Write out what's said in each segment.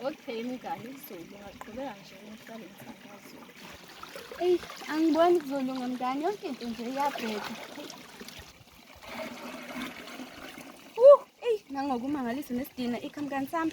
Okay, mngani izulu ngaqhubeka nje ngihlale ngisakazulu. Eyi, angiboni kuzolunga mngani, yonke into nje iyabheka. Uh, eyi, nangokumangalisa nesidina ikhamkani sami.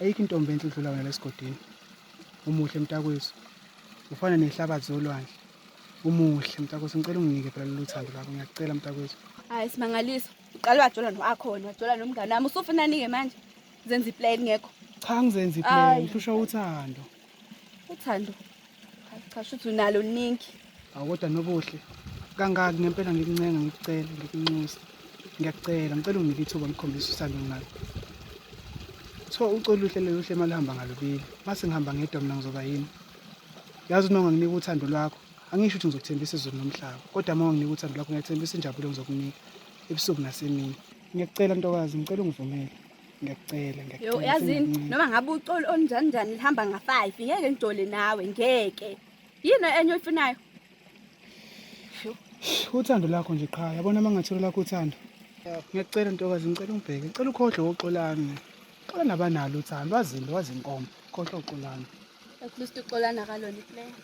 Ayikho intombi enhle udlula wena lesigodini. Umuhle mntakwethu. Ufana nehlabathi zolwandle. Umuhle mntakwethu ngicela unginike phela lolu thando lakho ngiyakucela mntakwethu. Hayi simangaliso. Uqala wajola noakhona, wajola nomngane wami. Usufunani ke manje? Zenza iplan ngekho. Cha ngizenza iplan, ngihlushwa uthando. uthando cha shuthi unalo ningi awoda nobuhle kangaki ngempela ngikuncenga ngikucela ngikunxusa ngiyakucela ngicela unginike ithuba ngikhombise usando ngalo so ucolo uhle loluhle malihamba ngalubili mase ngihamba ngedwa mina ngizoba yini yazi unonga nginika uthando lwakho angisho ukuthi ngizokuthembisa izulu nomhlaba kodwa uma nginika uthando lwakho ngiyathembisa injabulo ngizokunika ebusuku nasemini ngiyakucela ntokazi ngicela ungivumele ngiyacela ngiyacela yazini noma ngabe uxolo onjani njani lihamba nga-five ngeke ngijole nawe ngeke yini enye oyifunayo uthando lakho nje qha yabona uma ngathola lakho uthando ngiyacela ntokazi ngicela ungibheke ngicela ukhohlwe woxolami xola nabanalo uthando wazini wazinkomo khohlwa uxolami at least uxolana kalona iplayer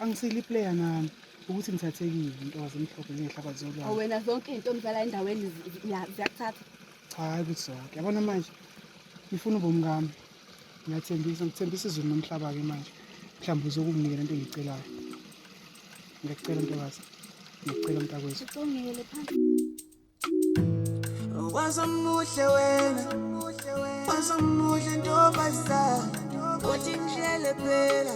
angisile iplayer nami ukuthi ngithathekile ntokazi emhlophe ngehlabathi zolwandle wena zonke into omzala endaweni ziyakuthatha cha hayi ukuthi zonke yabona manje ngifuna ubomi kami ngiyathembisa ngithembisa izulu nomhlaba-ke manje mhlawumbe uzokunginikela into engiyicelayo ngiyakucela ntokazi ngiyakucela mntakwethu wazomuhle wena wazomuhle ntombazana uthi ngishele phela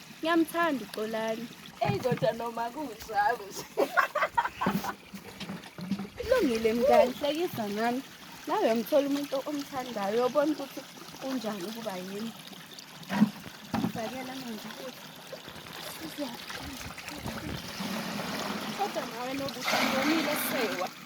Ngiyamthanda uXolani. Eyi kodwa noma kunjalo nje. Kulungile mngani, hlekisa nami. Nawe uyamthola umuntu omthandayo, uyobona ukuthi kunjani ukuba yini. Fakela manje futhi. Kodwa nawe nobuthi ngomile sewa.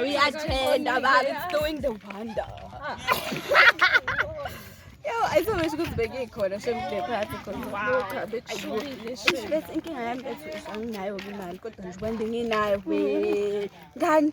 Uyathenda baba, it's doing the wonder. Yo, ayizomesha ukuthi bekikhona shemde phansi khonabese inkinga yami bethu anginayo-ke imali kodwa nje kwande nginayo ngani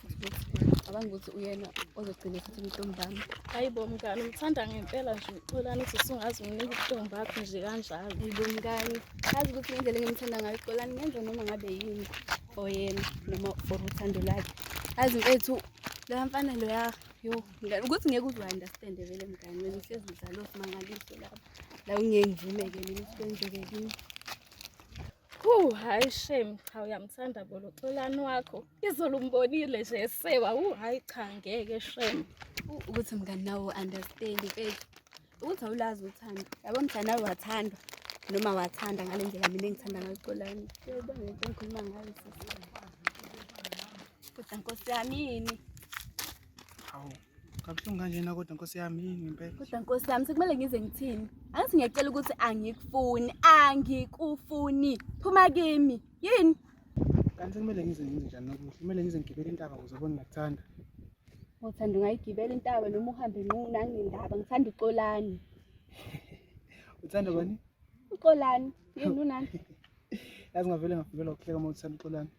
Cabanga ukuthi uyena ozogcina futhi ubuhlungu bami. Hayi bo mngani, umthanda ngempela nje uXolani ukuthi usungazi umnika ubuhlungu bakho nje kanjalo. Hayi bo mngani, azi ukuthi ngendlela engimthanda ngayo uXolani ngenza noma ngabe yini for yena noma for uthando lakhe. Azi mfethu la mfana loya yo mngani ukuthi ngeke uze understand vele mngani wena uhlezi uzalo simangaliso lapha. La ungeke ngivume ke mina ukuthi kwenzeke kimi. Hu hayi shame cha uyamthanda bo loxolani wakho. Izolo umbonile nje esewa hu hayi cha ngeke shame. Ukuthi mngani nawe understand mfethu. Ukuthi awulazi uthando. Yabo mthanda nawe wathandwa noma wathanda ngale ndlela mina engithanda ngayo uxolani. Yebo ngeke ngikhuluma ngayo sisi. Kodwa nkosi yami yini? Hawu. Kabuhlungu kanjena kodwa nkosi yami ngempela. Kodwa nkosi yami sekumele ngize ngithini? Angithi ngiyacela ukuthi angikufuni, angikufuni. Phuma kimi. Yini? Kanti sekumele ngize ngize njani nokuhle? Kumele ngize ngigibele intaba ukuze ubone ngakuthanda. Ngothanda ungayigibela intaba noma uhambe nqunu anginendaba ngithanda uxolani. Uthanda bani? Uxolani. Yini unani? Yazi ngavele ngafikelwa ukuhleka uma uthanda uxolani.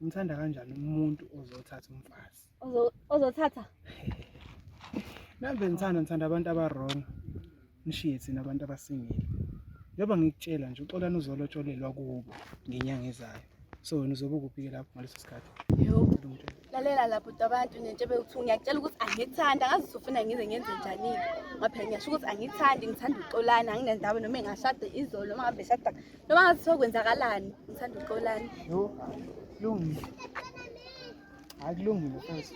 Umthanda kanjani umuntu ozothatha umfazi? Ozothatha? Nambe ngithanda ngithanda abantu abarong. Nishiye thina abantu abasingile. Njengoba ngikutshela nje uxolani uzolotsholelwa kubo ngenyanga ezayo. So wena uzobe ukuphi lapho ngaleso sikhathi? Yo. Lalela lapho abantu nento bewuthi ngiyakutshela ukuthi angithanda ngazi usufuna ngize ngenze njani. Ngaphela ngiyasho ukuthi angithandi ngithanda uxolani anginendawo noma engashada izolo uma ngabe shada noma ngathi sokwenzakalani ngithanda uxolani yo lungile hayi kulungile futhi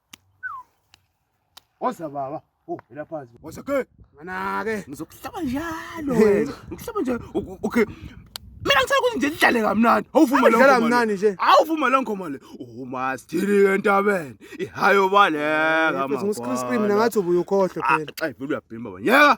Oza baba. Oh, ila phansi. Oza ke. Mana ke. Ngizokuhlaba njalo wena. Ngihlaba njalo. Okay. Mina ngicela ukuthi nje sidlale kamnandi. Awuvuma lo ngoma. Kamnandi nje. Awuvuma lo ngoma le. Uma sidili entabeni. Ihayo baleka mama. Ngizongisikhulisa mina ngathi ubuyukhohle phela. Xa ivela uyabhimba wena. Yeka.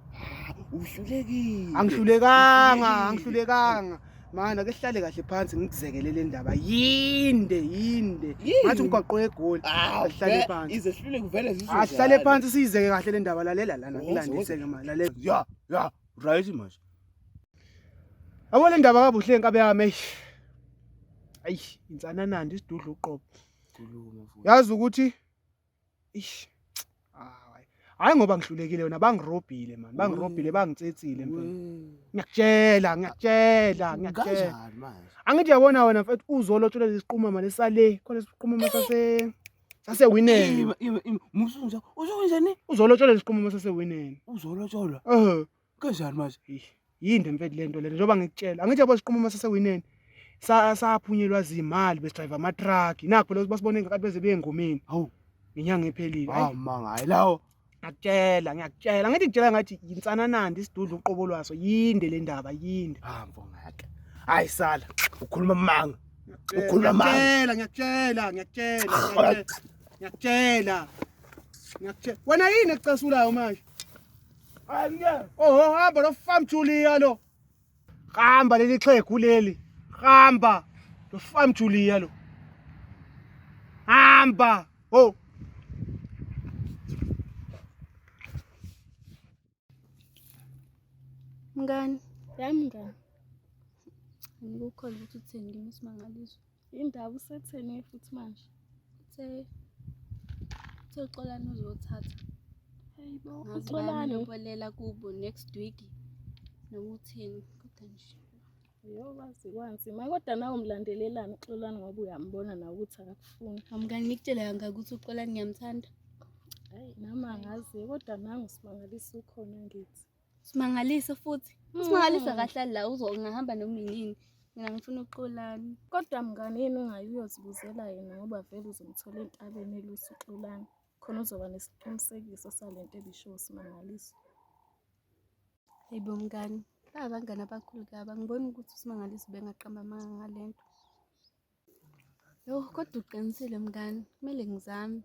uhlulekile angihlulekanga angihlulekanga mana ke sihlale kahle phansi ngikuzekele le ndaba yinde yinde ngathi umgwaqo wegoli asihlale ah, phansi ize sihlule kuvele zizwe asihlale ah, phansi siyizeke kahle le ndaba lalela lana ngilandise ke manje lalela ya ya right manje Yabo le ndaba kabuhle inkabe yami eish. Eish insananandi isidudla uqobo. Yazi ukuthi Ish. Hayi. Hayi ngoba ngihlulekile wena bangirobhile man, bangirobhile bangitsetsile mfethu. Wee. Ngiyakutshela, ngiyakutshela, ngiyakutshela. Kanjani manje? Angithi yabona wena mfethu uzolotshola lesiqumama lesale, khona lesiqumama sase sase winene. Ima ima ima musunja. Usho kunjani? Uzolotshola lesiqumama sase winene. Uzolotsholwa. Eh. kanjani manje yinde mfethu lento lento njengoba ngikutshela angithi yabo siqhuma uma sesewineni saphunyelwa zimali besidrayiva amatruck nakho phela basibone ngakathi beze beyengomeni hawu ngenyanga ephelile hawu manga hayi lawo ngakutshela ngiyakutshela angithi ngitshela ngathi yinsananandi isidudu uqobo lwaso yinde le ndaba yinde hambo ngake hayi sala ukhuluma manga ukhuluma manga ngiyakutshela ngiyakutshela ngiyakutshela ngiyakutshela wena yini ekucasulayo manje Oho hamba lo farm Julia lo. Hamba leli xhegu leli. Hamba lo farm Julia lo. Hamba. Oh. Mngani, yami mngani. Angikukholwa ukuthi uthini kimi simangaliswa. Indaba usetheni futhi manje. Uthe uthe uxolani uzothatha. Hayibo uxolani ubolela kubo next week noma uthini kodwa nje. Yo wazi kwanzima kodwa nawe umlandelelani uxolani ngoba uyambona nawe ukuthi akakufuni. Amkani nikutshela kanga ukuthi uxolani ngiyamthanda. Hayi nami angazi kodwa nangu simangalisa ukhona ngithi. Simangalise futhi. Simangalise mm. kahle la uzongahamba noma yini. Mina ngifuna uXolani. Kodwa mngane yini ungayi uyozibuzela yena ngoba vele uzomthola entabeni elusa uXolani. Khona uzoba nesiqinisekiso salento ebisho uSimangaliso. Hayibo mngani, abangani abakhulu kaba ngibona ukuthi uSimangaliso bengaqamba amanga ngalento. Yho kodwa uqinisile mngani, kumele ngizame.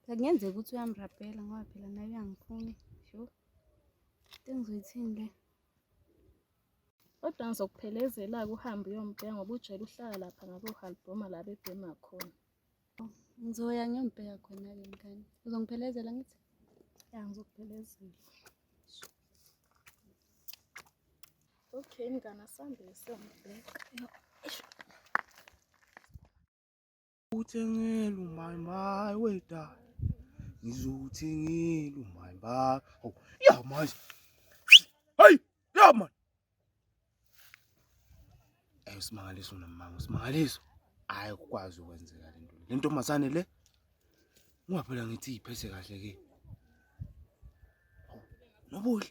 Kungenzeka ukuthi uyamrabhela ngoba phela naye uyangifuna. Sho. Into engizoyithini le? Kodwa ngizokuphelezela-ke uhambe uyombheka ngoba ujele uhlala lapha ngakohalbhoma la bebhema khona. Ngizoya ngiyombheka khona-ke mngani. Uzongiphelezela ngithi? Ya ngizokuphelezela. Okay mngani asambe siyombheka. Uthengelu my my weda. Ngizothengelu my ba. Oh, yeah my. Hey, yeah man. Hey usimangaliso nomama usimangaliso. Hayi ukwazi ukwenzeka lento. Lento mazane le. Ungaphela ngithi iphese kahle ke. Nobuhle.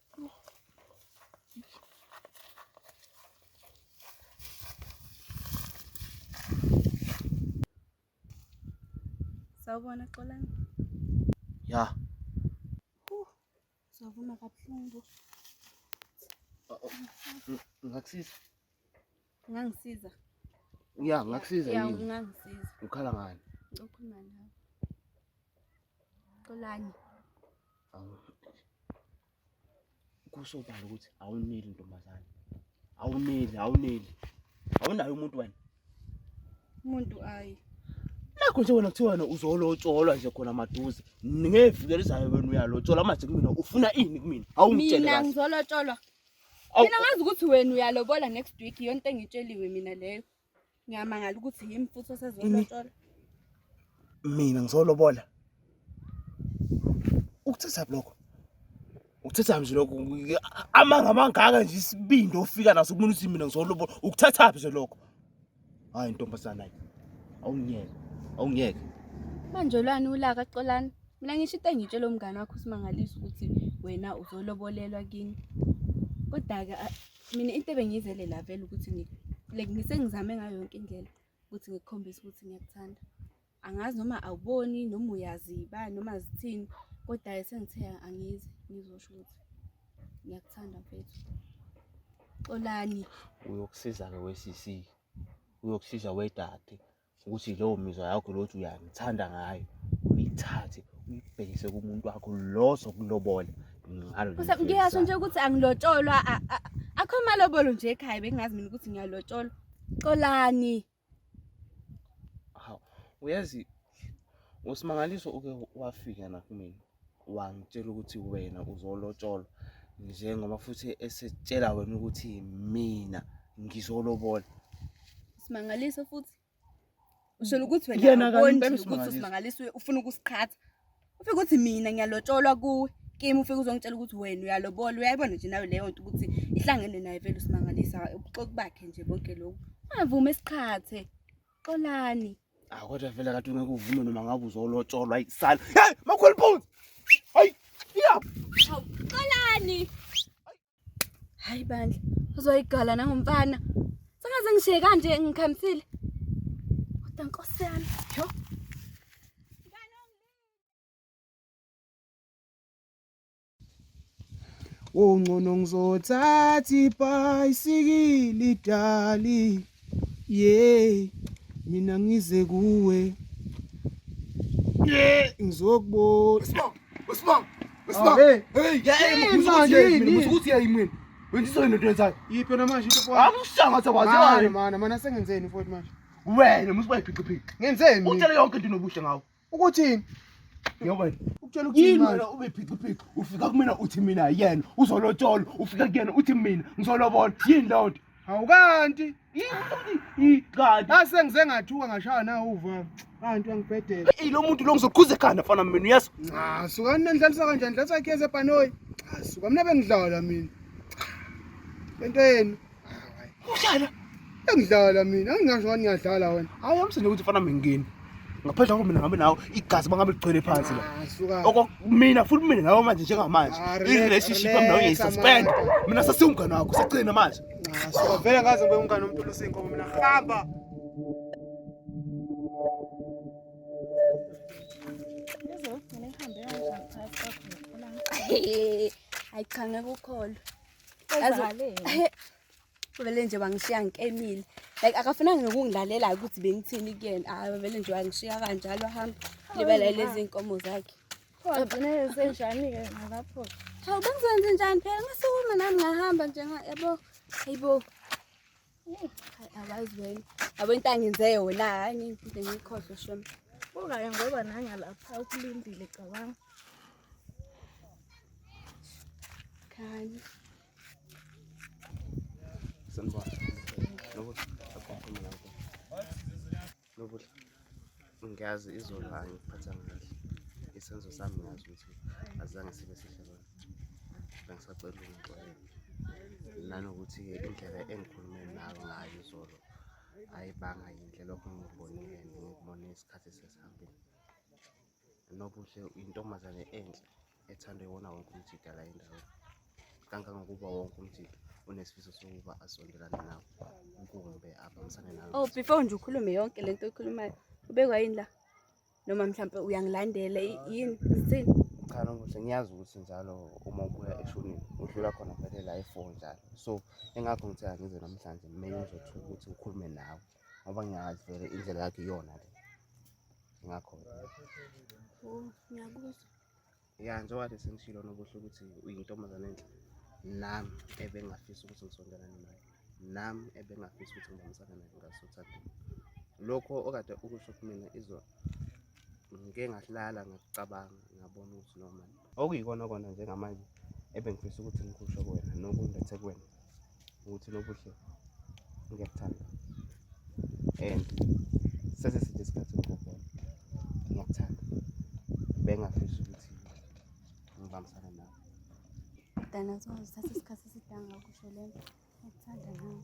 Sawubona Xolani. Ya. Sawubona kabuhlungu. Ngakusiza. Ungangisiza? Ya, ngakusiza yini? Ya, ungangisiza. Ukhala ngani? Ukhuluma nawe. Xolani. Awu. Kusobala ukuthi awuneli ntombazane. Awuneli, awuneli. Awunayo umuntu wena. Umuntu ayi. Nakho nje wena kuthiwa wena uzolotsholwa nje khona maduze. Ngevikelizayo wena uyalotsholwa manje kumina ufuna ini kumina? Awungitshele kahle. Mina ngizolotsholwa. Awu, Mina ngazi ukuthi wena uyalobola next week yonke into engitsheliwe mina leyo. Ngiyamangala ukuthi yimi futhi osezolotshola. mina ngizolobola ukuthetha lokho ukuthetha nje lokho amanga amangaka nje isibindi ofika naso kumuntu uthi mina ngizolobola ukuthetha nje lokho Hayi ntombazana hayi. Awungiyeke. Awungiyeke. Manje lwani ulaka Xolani? Mina ngisho into engitshela umngane wakho usimangalisa ukuthi wena uzolobolelwa kini. Kodwa-ke a- mina into ebengiyizele la vele ukuthi ngi- like ngisengizame ngayo yonke indlela ukuthi ngikukhombise ukuthi ngiyakuthanda. angazi noma awuboni noma uyaziba noma zithini kodwa ke sengithe angizi ngizosho ukuthi ngiyakuthanda mfethu xolani uyokusiza-ke we-cc uyokusiza wedade ukuthi leyo mizwa yakho lothi uyangithanda ngayo uyithathe uyibhekise kumuntu wakho lo sokulobola ngalo ngiyasho nje ukuthi angilotsholwa akho malobolo nje ekhaya bengingazi mina ukuthi ngiyalotsholwa xolani Hawu, uyazi uSimangaliso uke wafika nakumina wangitshela ukuthi wena uzolotsholwa njengoba futhi esetshela wena ukuthi mina ngizolobola. Simangaliso futhi. Usholo ukuthi wena yena kanti uSimangaliso ufuna ukusiqhatha. ufike ukuthi mina ngiyalotsholwa kuwe kimi ufike uzongitshela ukuthi wena uyalobola uyayibona nje nawe leyo nto ukuthi ihlangene naye vele usimangalisa ubuxoki bakhe nje bonke lokhu ungavume esiqhathe xolani ah kodwa vele kade ungeke uvume noma ngabe uzolotsholwa isala hey makhulu phones hayi yeah xolani Hayi bandla, uzoyigala nangomfana. Sengaze ngishiye kanje ngikhamisile. Kodwa nkosi yami, yho. Ungcono ngizothatha ibhayisikili dali Yey mina ngize kuwe Yeah, ngizokubona. Sibonga, usibonga, usibonga. Hey, hey, hey, manje mina ukuthi yayimini. Wenziso yini into yenzayo? Yiphi namanje into futhi? Akusanga ukuthi akwazi wani. Mana, mana sengenzeni futhi manje? Wena musibayiphiqiphiqi. Ngenzeni? Utshele yonke into inobuhle ngawo. Ukuthini? Yebo. Ukutshela ukuthi yini wena ube phiqiphiki ufika kumina uthi mina yena uzolotshola ufika kuyena uthi mina ngizolobona yini leyo nto? Hawu kanti kanti ase ngize ngathuka ngashaya nawo uva kanti uyangibhedela. Ey lo muntu lo ngizoqhuza ekhanda mfana mina uyazi. Cha sukani nendlalisa kanjani ndlalisa ikhese ebhanoyi. Cha suka mina bengidlala mina. Lento yenu. Udlala. Engidlala mina, angingasho wani ngiyadlala wena. Hayi amsinde ukuthi fana mengeni. Ngaphandle kwakho mina ngihambe nawo igazi bangabe ligcwele phansi la. Ah, suka. Okumina futhi mina nawe manje njengamanje. Ah, relax, I-relationship yami nawe relax, ngiyisuspend. amanga. Mina sasiwumngane wakho, sagcina manje. Ah, suka. Vele ngaze ngibe umngane womuntu olusinko mina. Hamba. Ngizwe ugcine kuhambe kanjani phakathi kwakho nokukhulana. Ayi cha ngeke ukholwe. vele nje wangishiya ngikemile like akafunanga nokungilalela ukuthi bengithini kuyena hayi vele nje wangishiya kanjalo hamba libala lezi nkomo zakhe wagcine senjani-ke nalapho hawu bengizenze njani phela ngasukuma nami ngahamba nje yabo hayibo Awazweni. Yabo into angenze yona hayi ngiphinda ngikhohlwe shem. Ungaya ngoba nanga lapha ukulindile cabanga. Khani. Sanibona. Lokuthi akhuluma lapho. Nobula. Ngiyazi izolo angiphatha kahle. Isenzo sami ngiyazi ukuthi azange sibe sihle kona. Bengisacela ukuxolela. Nanokuthi indlela engikhulume nayo ngayo izolo ayibanga yinhle lokho ngikubonile ngikubone isikhathi sesihambile. Nobuhle uyintombazane enhle ethandwa iwona wonke umjida la endaweni kangangokuba wonke umjida unesifiso sokuba asondelane nawo kumbe abambisane nawo oh before nje ukhulume yonke le nto oyikhulumayo ubekwa yini la noma mhlawumpe uyangilandela yini isini cha nobuhle ngiyazi ukuthi njalo uma ubuya eshonini udlula khona vele la efo njalo so engakho ngithe angize namhlanje maybe uzothuka ukuthi ukhulume nawe ngoba ngiyazi vele indlela yakhe iyona le ngakho ya njengoba le sengishilo nobuhle ukuthi uyintombazane enhle nami ebengingafisa ukuthi ngisondelane naye nami ebengingafisa ukuthi ngibambisane naye ngasothandeni lokho okade ukusho kumina izona ngike ngahlala ngakucabanga ngabona ukuthi noma okuyikona kona njengamanje ebengifisa ukuthi ngikusho kuwena nokungethe kuwena ukuthi nobuhle ngiyakuthanda and sese sithe isikhathi ngikubona ngiyakuthanda bengafisa ukuthi ngibambisane nawe dana zozithatha isikhathi esidanga ukusho lento ngiyakuthanda nawe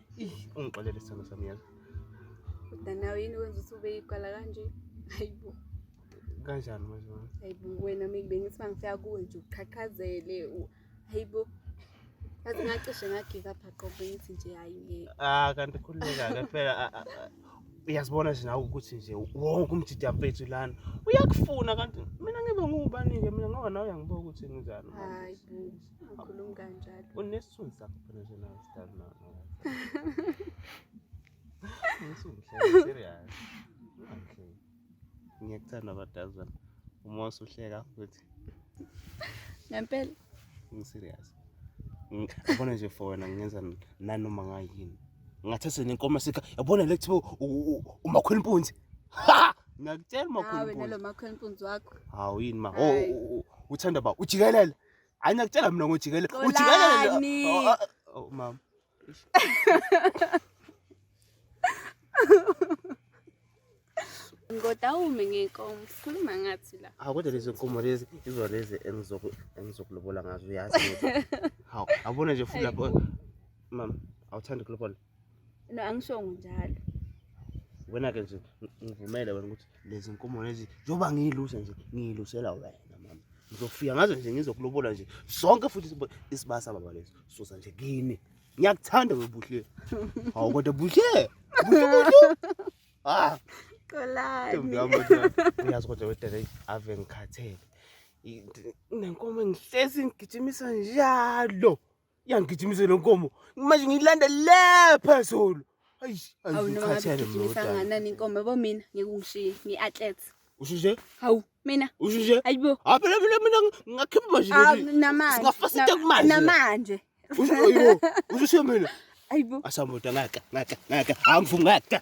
ungixolele sithando sami yazi kodwa nawe yini wenza ukuthi ube yiqala kanje hayibo kanjani manje mama hayibo wena mina bengithi mangifika kuwe nje uqhaqhazele hayibo yazi ngacishe ngagika pha qobo bengithi nje hayi ngeke ah kanti khululeka ke phela uyazibona nje nawe ukuthi nje wonke umjidi mfethu lana uyakufuna kanti mina ngibe ngubani-ke mina ngoba nawe uyangibuka ukuthi ngizani hayi Ukhuluma kanjalo. Unesithunzi sakho phela nje nawe sidali nawe. Usungihleka serious. Ungihleki. Ngiyakuthanda abadazi bami. Uma usuhleka futhi. Ngempela. Ngiserious. Ngibona nje for wena ngenza nanoma ngayini. Ngathatha nenkomo sika yabona le kuthiwa umakhwela impunzi. Ha! Ngiyakutshela umakhwela impunzi. Hawe nalo makhwela impunzi wakho. Hawu yini ma. Oh, oh, oh, oh. uthanda ba ujikelele. Hayi nakutshela mina ngojikelele. Ujikelele. Oh, oh, oh, oh mama. Ngodawume ngenkomo sikhuluma ngathi la. Hawu kodwa lezi nkomo lezi izona lezi engizoku engizokulobola ngazo uyazi. Hawu abona nje futhi lapho mama awuthandi ukulobola. no angishongo njalo wena ke nje ngivumele wena ukuthi lezi nkomo lezi njengoba ngiyiluse nje ngiyilusela wena mama ngizofika ngazo nje ngizokulobola nje sonke futhi isibasa baba lesi sosa nje kini ngiyakuthanda webuhle hawu kodwa buhle ah qolani uyazi kodwa wedere ave ngikhathele nenkomo engihlezi ngigijimisa njalo yangigijimise lo nkomo manje ngiyilanda le phezulu awunoaanani inkomo yabo mina ngeke ungishiye ngi-athlete usho nje hawu mina usho nje ayibo hawu phela mina mina ngakhipha manje namanje kumanje namanje usho ayibo usho mina ayibo asamota ngaka ngaka ngaka angivumi ngaka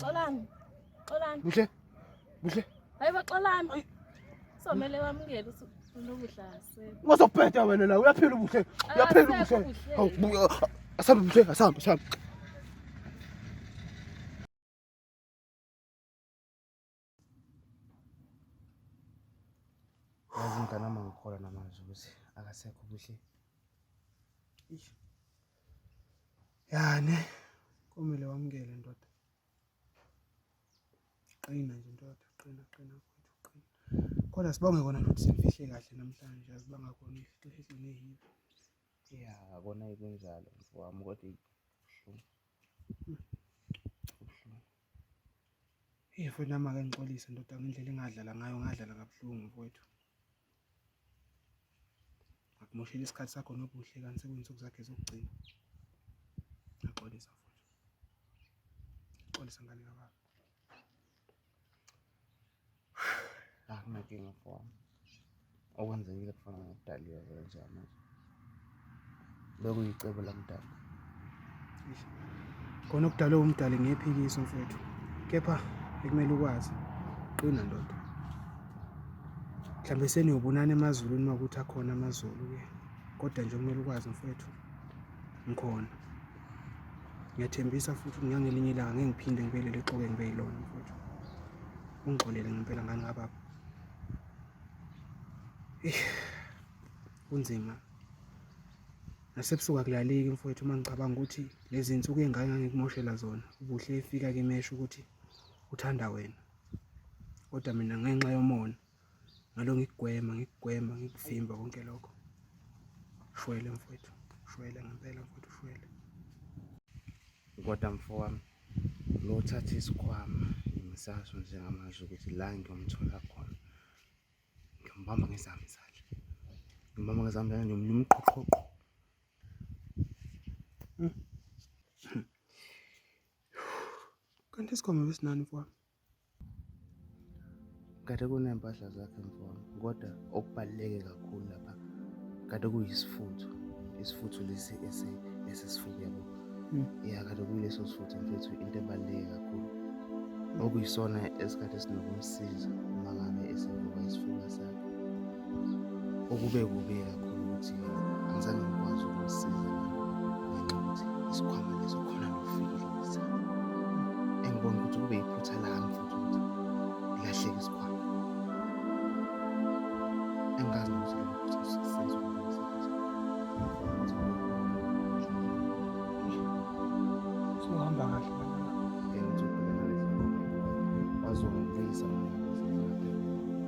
Xolani. Xolani. Buhle. Buhle. Hayibo xolani. Somele wamukele usuku. Ngozobheda wena la uyaphila ubuhle. Uyaphila ubuhle. Hawu buya. Asambe ubuhle, asambe, asambe. Izingane ama ngikholwa namanje ukuthi akasekho kuhle. Eish. Yani kumele wamukele ndoda. Qina nje ndoda, qina qina mfowethu qina. Kodwa sibonge kona ukuthi simfihle kahle namhlanje asibanga kona ifihle ifihle nehibe. Yeah, kona ikunjalo mfowami kodwa ibuhlungu. Hey mfowethu nami ake ngixolise ndoda ngendlela engadlala ngayo ngadlala kabuhlungu mfowethu. Akumoshela isikhathi sakho nobuhle kanti sekuyinsuku zakhe zokugcina. Ngiyaxolisa mfowethu. Ngiyaxolisa ngane kababa. akunankinga for okwenzekile kufana ngokudaliwe kwenziwa manje bekuyicebo lamdala khona okudalwe umdali ngephikisi mfethu kepha ekumele ukwazi qina ndoda mhlawumbe seniyobonana emazulwini uma ukuthi akhona amazulu-ke kodwa nje kumele ukwazi mfethu ngikhona ngiyathembisa futhi ukuthi ngangelinye ilanga ngeke ngiphinde ngibuyelele exoke ngibe yilona mfowethu ungixolele ngempela ngani kababa kunzima nasebusuku akulaleki mfowethu uma ngicabanga ukuthi lezi nsuku ey'ngane ngangikumoshela zona ubuhle efika kimesho ukuthi uthanda wena kodwa mina ngenxa yomona ngalo ngikugwema ngikugwema ngikuvimba konke lokho shwele mfowethu shwele ngempela mfowethu shwele kodwa mfowami lothatha isikhwama ngisaso njengamanje ukuthi la ngiyomthola khona ngimbamba ngezami izandla ngimbamba ngezami izandla ngiyomluma uqhoqhoqho kanti isikhwama besinani mfowami Kade kuney'mpahla zakhe mfana kodwa okubaluleke kakhulu lapha kade kuyisifutho isifutho lesi esisifuku yabo hmm. ya kade kuyileso sifutho mfethu into ebaluleke kakhulu okuyisona esikhathi esinokumsiza uma ngabe esevuka isifuba sakhe okube kubi kakhulu ukuthi angizange ngikwazi ukusiza ngenxa ukuthi isikhwama leso khona nokufikile engibona ukuthi kube yiphutha lami futhi ukuthi ilahleke isikhwama engazi ukuthi sohamba kahle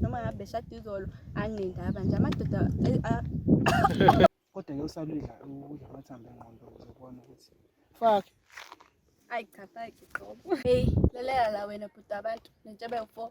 noma ngabe shada izolo anginendaba nje amadoda kodwa ke usalidla ukudla amathambo engqondo ukuze ubone ukuthi fuck ayi cha fuck qobo hey lalela la wena bhuti abantu nentshebe u4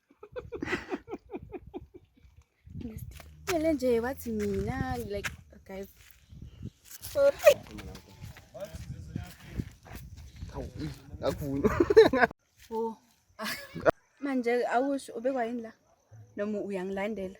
Ngele nje wathi mina like guys. Akuvuni. Oh. Manje awusho ubekwa yini la? Noma uyangilandela?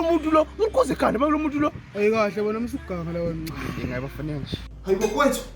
umuntu lo unkoze khanda bakulo muntu lo ayikahle bona msuganga lawo nqa ingayibafanele nje hayibo kwethu